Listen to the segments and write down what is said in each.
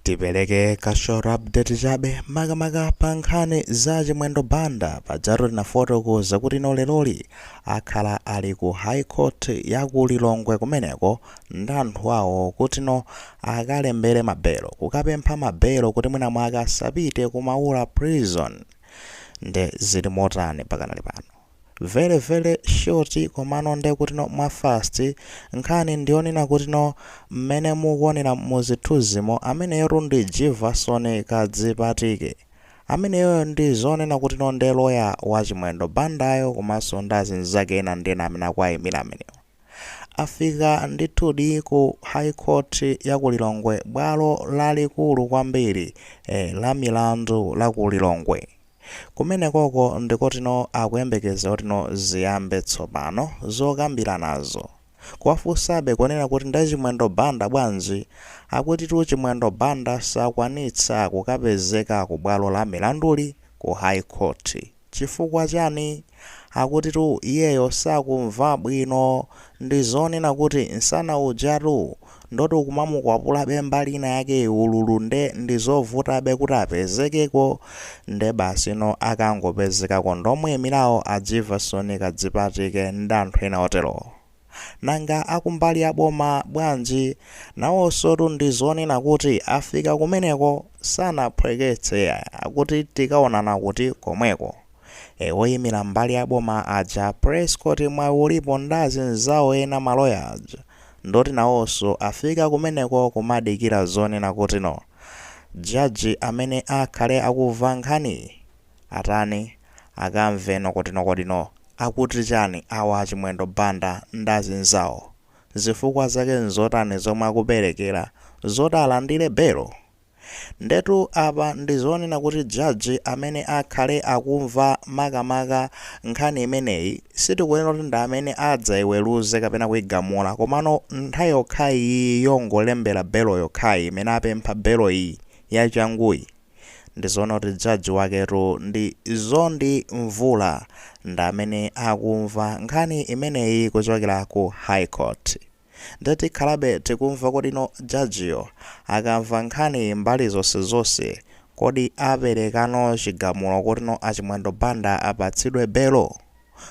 Tipeleke ka short update chabe makamaka pa nkhani za Chimwendo Banda pajatu tinafotokoza kuti no leroli akhala ali ku High Court ya ku Lilongwe kumeneko ndi anthu awo kuti no akalembere mabelo kukapempha mabelo kuti mwina mwake asapite ku Maula Prison nde zili motani pakanali pano Very very short komano nde kutino mwa fast nkhani ndiyonena kutino mmene mukuonera muzithunzimo ameneyotu ndi jivason kadzipatike ameneyoyo ndi zonena kutino nde loya wa chimwendo bandayo komanso ndi azinzake ena ndi ena amene akuwaimira amenewo. Afika ndithudi ku High Court ya ku Lilongwe, bwalo lalikulu kwambiri eh, la milandu la ku Lilongwe. Kumenekoko ndikotino akuyembekeza kutino ziyambe tsopano zokambiranazo. Kuwafunsabe kunena kuti nde Chimwendo Banda bwanji? Akutitu Chimwendo Banda sakwanitsa kukapezeka ku bwalo la milanduli ku High Court. Chifukwa chani? Akutitu iyeyo sakumva bwino. Ndizonena kuti nsana ujatu ndoti ukumamukwapulabe mbali ina yake ululu nde ndizovutabe kuti apezekeko. Nde basi no akangopezekako ndi omuimirawo a Jivason Kadzipatike ndi anthu ena oterowo. Nanga akumbali ya boma bwanji? Nawonsotu ndi zonena kuti afika kumeneko sanaphweketse akuti tikaonana kuti komweko. E oyimira mbali ya boma aja Prescot Mwayiulipo ndazinzawo ena ma lawyer aja ndoti nawonso afika kumeneko kumadikira zonena kuti no judge amene akhale akumva nkhaniyi. Atani? Akamve no kutino kodino. Akuti chani awa achimwendo Banda ndi azinzawo? Zifukwa zake nzotani zomwe akuperekera zoti alandire belo? Ndetu apa ndizonena kuti judge amene akhale akumva makamaka nkhani imeneyi sitikunena kuti ndi amene adzaiweruze kapena kuigamula komano nthawi yokhayi iyi yongolembera belo yokhayi imene apempha belo iyi yachanguyi ndizoona kuti judge waketu ndi Mzonde Mvula ndamene akumva nkhani imeneyi kuchokera ku high court nde tikhalabe tikumva kutino judge yo akamva nkhaniyi mbali zonsezonse kodi aperekano chigamulo kutino achimwendo banda apatsidwe belo?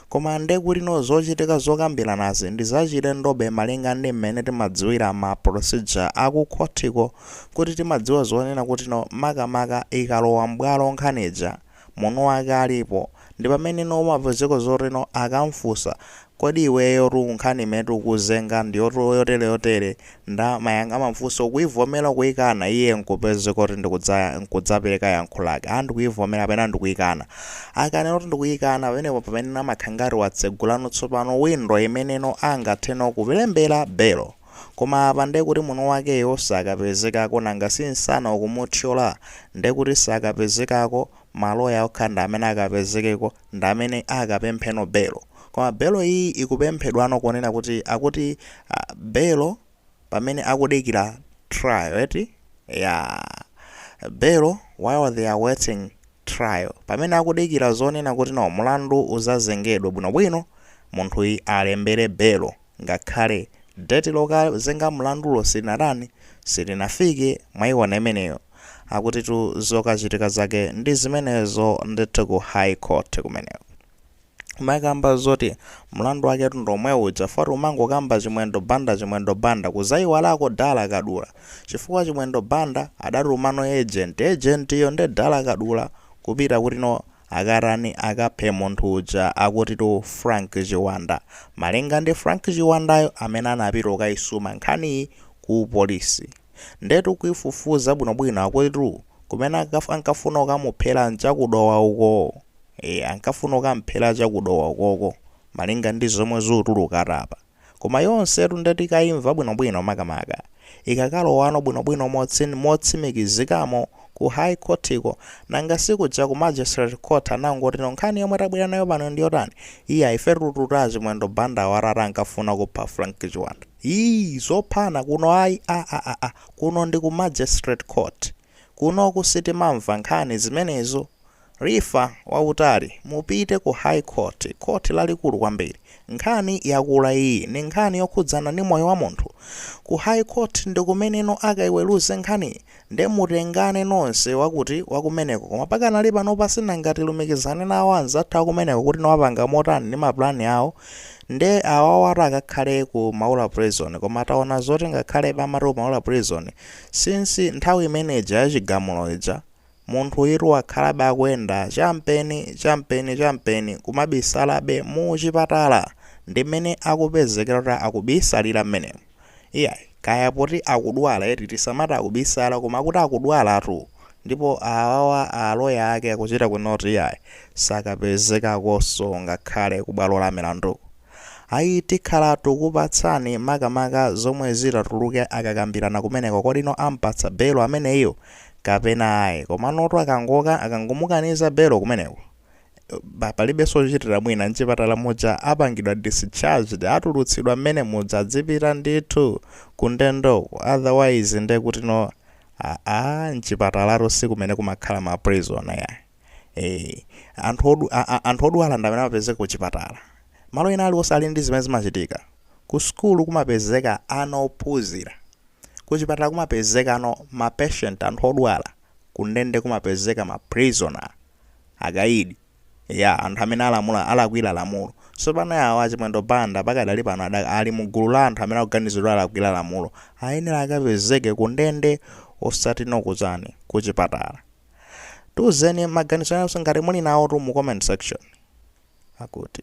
Koma nde kuti no zochitika zokambiranazi ndi zachilendobe malinga ndi mmene timadziwira ma procedure a ku khothiko kuti timadziwa zonena kuti no makamaka ikalowa m'bwalo nkhani ija mwini wake alipo ndi pamene no umapezeka zoti no akamfunsa kodi iweyotu nkhani imene tikukuzenga ndi yotere yotere nda mayang a mafunso kuivomera kuikana iye nkupezeka kuti ndikudzaya nkudzapereka yankho lake a ndikuivomera kapena ndikuikana akanena kuti ndikuikana pamenepo pamene amakhangati watsegulano tsopano windo imene no angathe no kulembera belo koma apa nde kuti mwini wakeyo sakapezekako nanga si nsana ukumuthyola nde kuti sakapezekako maloya okha ndi amene akapezekeko ndi amene akapempheno belo koma belo iyi ikupemphedwano ponena kuti akuti ah belo pamene akudikira trial eti eya belo while they are waiting trial pamene akudikira zonena kuti no mulandu uzazengedwe bwinobwino munthuyi alembere belo Ngakhale date lokazenga mlandulo silinatani, silinafike, mwaiona imeneyo. Akutitu zokachitika zake ndi zimenezo ndithu ku High Court kumeneko. Kumakamba zoti mlandu waketu ndi omwe uja chifukwa ati umangokamba Chimwendo Banda Chimwendo Banda kuzaiwalako Dala Kadula chifukwa Chimwendo Banda adatuma no agent, agent yo nde Dala Kadula kupita kuti no Akatani akaphe munthu uja akutitu Frank Chiwanda. Malinga ndi Frank Chiwandayo amene anapita kukaisuma nkhaniyi ku polisi. Ndetu kuifufuza bwinobwino akutitu kumene akaf ankafuna kukamuphera ncha ku Dowa uko. Eya ankafuna kukamphera cha ku Dowa ukoko malinga ndi zomwe zikutuluka apa. Koma yonsetu nde tikaimva bwinobwino makamaka ikakalowano bwinobwino motsin motsimikizikamo ku high courtiko nanga si kuja ku magistrate court anangotino nkhani yomwe tabwera nayo pano ndi yotani iya ifetu tuta a chimwendo banda awa atatu ankafuna kupha frank chiwanda ii zophana kuno ayi aaah kuno ndi ku magistrate court Kunoku sitimamva nkhani zimenezo. Rifa wautali, mupite ku High Court, Court lalikulu kwambiri. Nkhani yakula iyi, ndi nkhani yokhudzana ndi moyo wa munthu. Ku High Court ndi kumeneno akaiweruze nkhaniyi. Nde mutengane nonse wakuti, wakumeneko. Koma pakanali panopa sinanga tilumikizane nawo anzathu akumeneko kuti no apanga motani ndi ma plan awo. Nde awa atatu akakhale ku Maula Prison. Koma taona zoti ngakhale timati ku Maula Prison, Since nthawi imene ija ya chigamulo ija, munthuyitu wakhalabe akuyenda champeni, champeni, champeni kumabisalabe mu chipatala! Ndi mmene akupezekera kuti akubisalira mmenemo. Iyayi, kaya poti akudwala eti, tisamati akubisala koma akuti akudwalatu! Ndipo awawa a lawyer ake akuchita kunena kuti iyayi, sakapezekakonso ngakhale kubwalo la milanduko. Ayi tikhala tukupatsani makamaka zomwe zitatuluke akakambirana kumeneko kodino ampatsa belo ameneyo kapena ayi komanotu akangomukaniza belo kumeneko palibenso ochitira mwina mchipatala muja apangidwa discharged atulutsidwa mmene muja adzipita ndithu kundendoko otherwise ndekutino aa mchipatalatu sikumene kumakhala ma prison yayi. Aa, anthu odwala ndamene amapezeka kuchipatala malo ena aliwonse ali ndi zimene zimachitika ku sukulu kumapezeka ana ophunzira kuchipatala kumapezeka ano ma patient anthu odwala kundende kumapezeka ma prisoner akaidi anthu amene alakwira lamulo tsopano awa achimwendo banda pakadali pano ali mu gulu la anthu amene akuganizidwa alakwira lamulo ayenera akapezeke kundende osati nokuchani kuchipatala tiuzeni maganizo anu ngati muli nawotu mu comment section akuti